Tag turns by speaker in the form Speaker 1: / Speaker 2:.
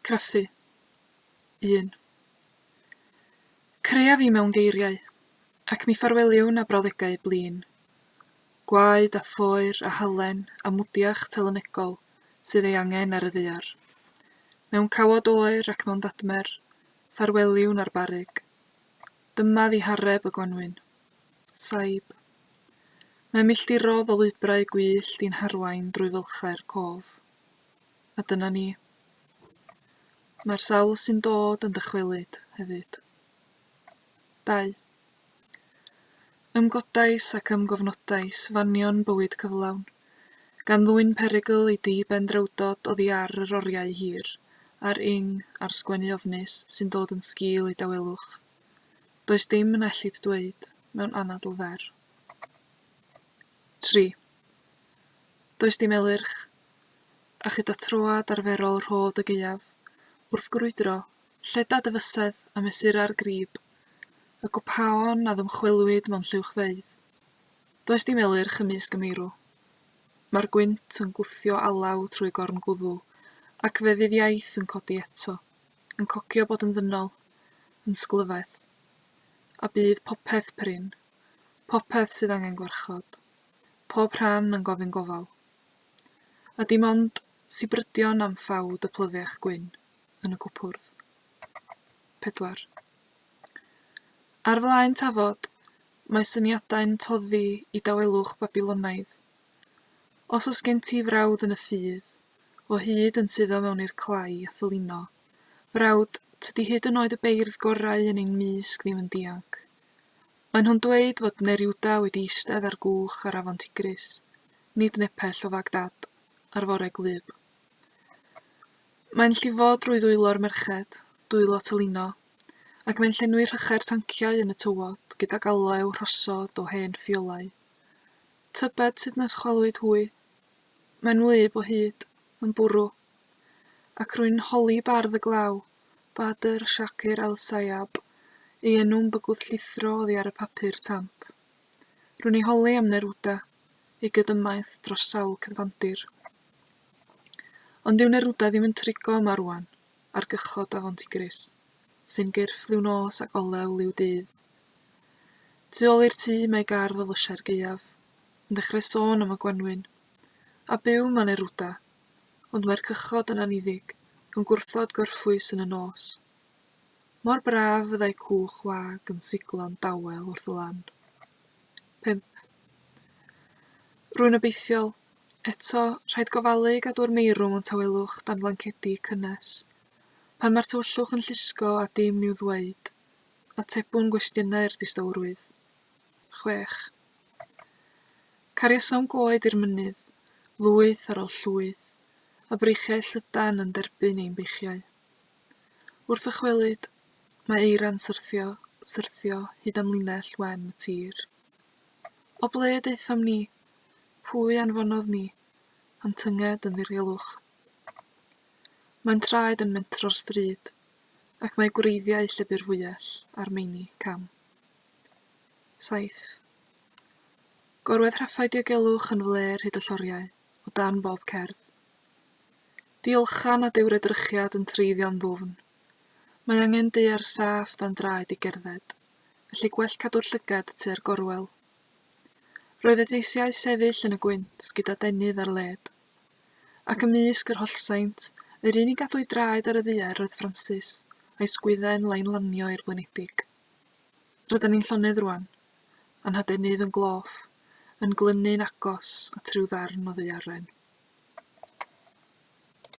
Speaker 1: Craffu. Un. Creaf i mewn geiriau, ac mi ffarweliwn â brawddegau blin. Gwaed a phoer a halen a mwdiach telynegol sydd ei angen ar y ddaear. Mewn cawod oer ac mewn ddadmer, ffarweliwn â'r barug. Dyma ddihareb y gwanwyn. Saib. Mae milltirodd o lwybrau gwyllt i'n harwain drwy fylchau'r cof. a dyna ni. Mae'r sawl sy'n dod yn dychwelyd hefyd. Dau. Ymgodais ac ymgofnodais fanion bywyd cyflawn, gan ddwyn perygl i di ben drewdod oddi ar yr oriau hir, ar ing, ar sgwennu ofnus sy'n dod yn sgil ei dawelwch. Does dim yn ellid dweud, mewn anadl fer. Tri. Does dim elyrch, a chyda troad arferol rhodd y gaeaf, wrth grwydro, lleda dy fysedd a mesura'r grib, y gwpaon a ddymchwelwyd mewn lluwchfeydd. Does dim elyrch ymysg y meirw. Mae'r gwynt yn gwthio alaw trwy gorn gwddw, ac fe fydd iaith yn codi eto, yn cocio bod yn ddynol, yn sglyfaeth. A bydd popeth prin. Popeth sydd angen gwarchod. Pob rhan yn gofyn gofal. A dim ond sibrydion am ffawd y plyfiach gwyn yn y cwpwrdd. Pedwar. Ar flaen tafod, mae syniadau'n toddi i dawelwch Babilonaidd. Os oes gen ti frawd yn y ffydd, o hyd yn suddo mewn i'r clai a thylino, frawd, tydi hyd yn oed y beirdd gorau yn ein mysg ddim yn dianc. Maen nhw'n dweud fod Neruda wedi eistedd ar gwch ar afon Tigris, nid nepell o Fagdad, ar fore gwlyb. Mae'n llifo drwy ddwylo'r merched, dwylo Tolino, ac mae'n llenwi rhychau'r tanciau yn y tywod gydag aloew rhosod o hen ffiolau. Tybed sut nes chwalwyd hwy? Mae'n wlyb o hyd, yn bwrw. Ac rwy'n holi bardd y glaw, Badr Shakir Al Sayab, ei enw'n bygwth llithro oddi ar y papur tamp. Rwy'n ei holi am Neruda, ei gydymaith dros sawl cyfandir. Ond dyw Neruda ddim yn trigo yma rwan, ar gychod afon Tigris, sy'n gyrff liw nos ac olew liw dydd. Tu ôl i'r tŷ mae gardd o lysiau'r gaeaf, yn dechrau sôn am y gwanwyn. A byw yma Neruda, Ond mae'r cychod yn anniddig, yn gwrthod gorffwys yn y nos. Mor braf fyddai cwch wag yn siglo'n dawel wrth y lan. 5. Rwy'n obeithiol. Eto, rhaid gofalu gadw'r meirwm o'n tawelwch dan flancedi cynnes. Pan mae'r tywyllwch yn llusgo a dim i'w ddweud, atebwn gwestiynau'r distawrwydd. chwech. Cariasom goed i'r mynydd, lwyth ar ol llwyth, a breichiau llydan yn derbyn ein beichiau. Wrth ddychwelyd, mae eira'n syrthio, syrthio, hyd am linell wen y tir. O ble y daethom ni? Pwy anfonodd ni? Ond tynged yn ddirgelwch. Mae'n traed yn mentro'r stryd, ac mae gwreiddiau llebu'r fwyell ar meini cam. saith. Gorwedd rhaffau diogelwch yn flêr hyd y lloriau, o dan bob cerdd. Diolchan a dyw'r edrychiad yn treiddio'n ddwfn. Mae angen deuer saff dan draed i gerdded, felly gwell cadw'r llygad tua'r gorwel. Roedd y deisiau sefyll yn y gwynt gyda denydd ar led. Ac ymysg yr hollsaint, yr un i gadw'i draed ar y ddaear oedd Francis, a'i sgwydden lai'n lanio i'r blinedig. Rydan ni'n llonydd rwan, a'n hadenydd yn gloff, yn glynu'n agos at ryw ddarn o ddaearen.